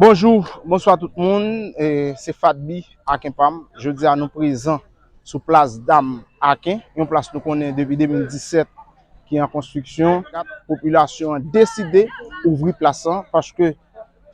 Bonjou, bonswa tout moun, se Fadby Aken Pam, jodi a nou prezan sou plas Dam Aken, yon plas nou konnen depi 2017 ki an konstriksyon, popilasyon an deside ouvri plas lan paske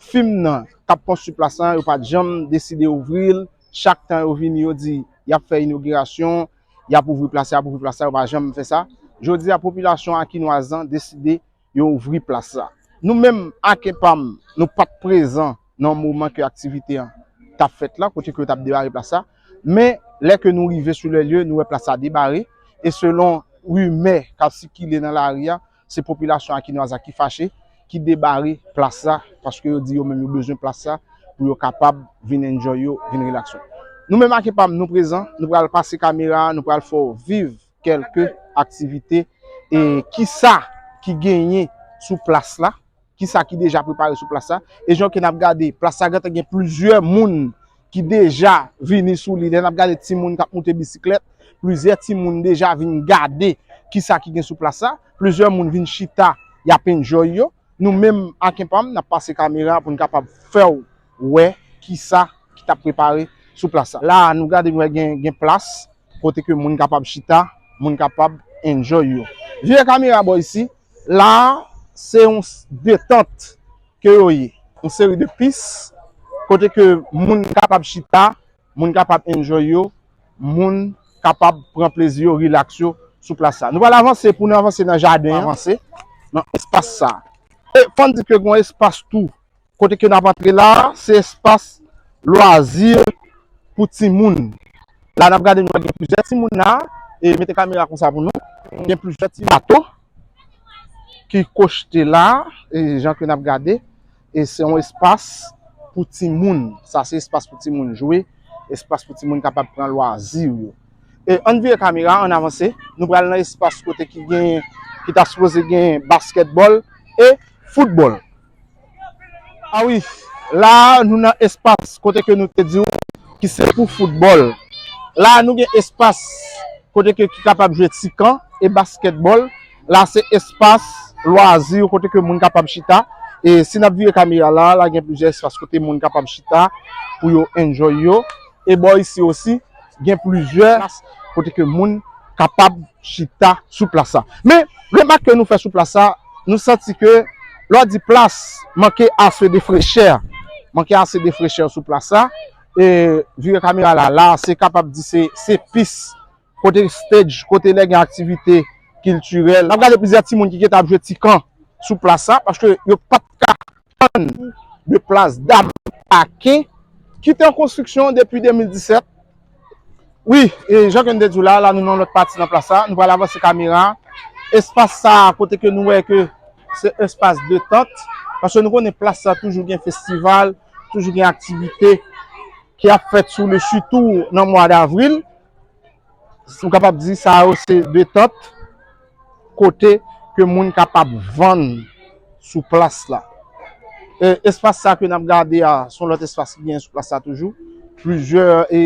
fim nan k ap konstri plas lan yo pa t janm deside ouvri l, chak tan yo vini yo di y ap fè inogirasyon, y ap ouvri plas la, y ap ouvri plas la, yo pa janm fè sa, jodi a popilasyon akinwaz lan deside yo ouvri plas la. Nou menm ak epam nou pat prezan nan moman ke aktivite an tap fèt la, kote ke yo tap debare plas la, men lè ke nou rive sou lè lye nou wè plas la debare e selon rimè kap sikile nan lari a se popilasyon Akinwaz la ki fache ki debare plas la paske yo di yo menm yo bezwen plas la pou yo kapab vin enjoy yo, vin relax yo. Nou menm ak epam nou prezan, nou pral pase kamera a, nou pral fè w viv. kelke aktivite e kisa ki genyen sou plas la, kisa ki deja prepare sou plas la. E jan ke n ap gade, plas la gentan gen plizyè moun ki deja vini sou li. Lè n ap gade ti moun k ap moute bisiklèt, plizyè ti moun deja vin gade kisa ki gen sou plas la. Plizyè moun vin chita, y ap enjoy yo. Nou menm ak Empam nap pase kamera pou n kapab fè w wè kisa ki tap prepare sou plas la. La a nou gade nou wè gen plas kote ke moun kapab chita, moun kapab enjoy yo. Vire kamera bò isi, la a se yon detant ke yo ye. Yon seri de pis kote ke moun kapab chita, moun kapab enjoy yo, moun kapab pran plezi yo, rilaks yo sou plas sa. Nou pral avanse pou nou avanse nan jaden an, avanse nan espas sa. E fò n di ke gen yon espas tou kote ke n ap antre la, se espas lwazi pou timoun. La n ap gade nou wè gen plizyè timoun la, e mete kamera kon sa pou nou, gen plizyè ti bato ki kochte la, e jan ke n ap gade. E se yon espas pou timoun. Sa se espas pou timoun jwe. Espas pou timoun kapab pran lwazi yo. E ann vire kamera, ann avanse. Nou pral nan espas kote ki gen, ki ta sipoze gen baskètbòl e foutbòl. A wi, la a nou nan espas kote ke nou te di ou ki se pou foutbòl. La a nou gen espas kote ke ki kapab jwe ti kan e baskètbòl. La se espas lwazi yo kote ke moun kapab chita e si nap vire kamera la la gen plizyè espas kote moun kapab chita pou yo enjoy yo e bò isi osi gen plizyè plas kote ke moun kapab chita sou plas sa men remak ke nou fè sou plas sa nou santi ke lò di plas manke ase de frechè manke ase de frechè sou plas sa e vire kamera la la se kapab di se pis Kote stage, kote lè gen aktivite kiltirèl. N ap gade plizyè timoun ki gen tan ap jwe ti kan sou plas la paske yo pa t ka tann de plas dam pake ki te an konstriksyon depi 2017. Wi, jan ke n te di w la, la nou nan yon lòt pati nan plas la. Nou pral avanse kamera a. Espas sa a kote ke nou wè ke se espas detant paske nou konnen plas sa toujou gen festival, toujou gen aktivite ki ap fèt sou li sitou nan mwa davril. Ou kapab di sa yo se detant kote ke moun kapab vann sou plas la. Espas sa ke nap gade a, son lòt espas ki gen sou plas la toujou. Plizyè e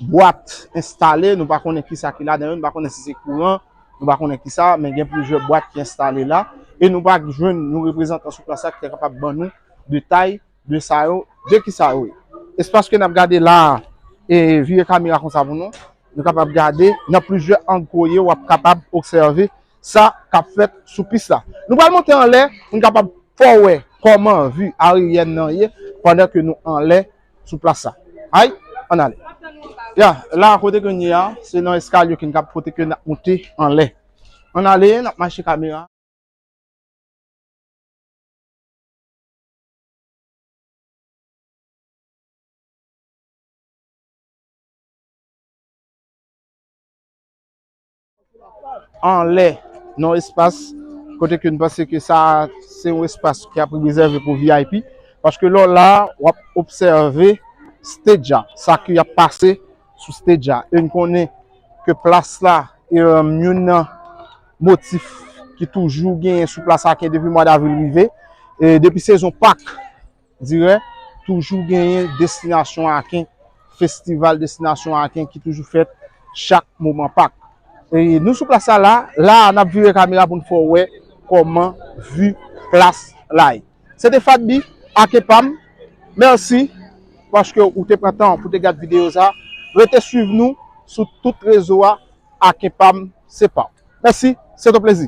bwat enstale, nou pa konnen ki sa ki la den, nou pa konnen si se kouran, nou pa konnen ki sa, men gen plizyè bwat ki enstale la. E nou pa jwenn nou reprezantan sou plas la ki te kapab ban nou detay. de sa yo, de ki sa yo ye. Espas ke n ap gade la a, e vire kamera konsa pou nou, nou kapab gade nan plizyè ang koye w ap kapab obsève sa k ap fèt sou pis la. Nou pral monte anlè pou n kapab fè w wè kòman vi aeryèn nan ye pandan ke nou anlè sou plas sa. Ay, ann ale. Ya, la a kote ke n ye a, se nan eskalye ke n kab kote ke n ap monte anlè. Ann ale, n ap mache kamera. anlè nan espas kote ke nou panse ke sa se yon espas ki ap rezève pou VIP paske lè w la a w ap obsève stage a, sa ki ap pase sou stage a e nou konnen ke plas la youn nan motif ki toujou genyen sou plas la ke depi mwa davril rive, depi sezon pak dire, toujou genyen destinasyon aken, festival destinasyon aken ki toujou fèt chak moman pak. Nou sou plas la, la a nap vire kamera pou nou fè w wè koman vi plas la ye. Se te Fadby, Aken pam, mèsi paske ou te pran tan pou te gad videyo sa. Rete swiv nou sou tout rezo a. Aken pam se paw. Mèsi, se t on plezi.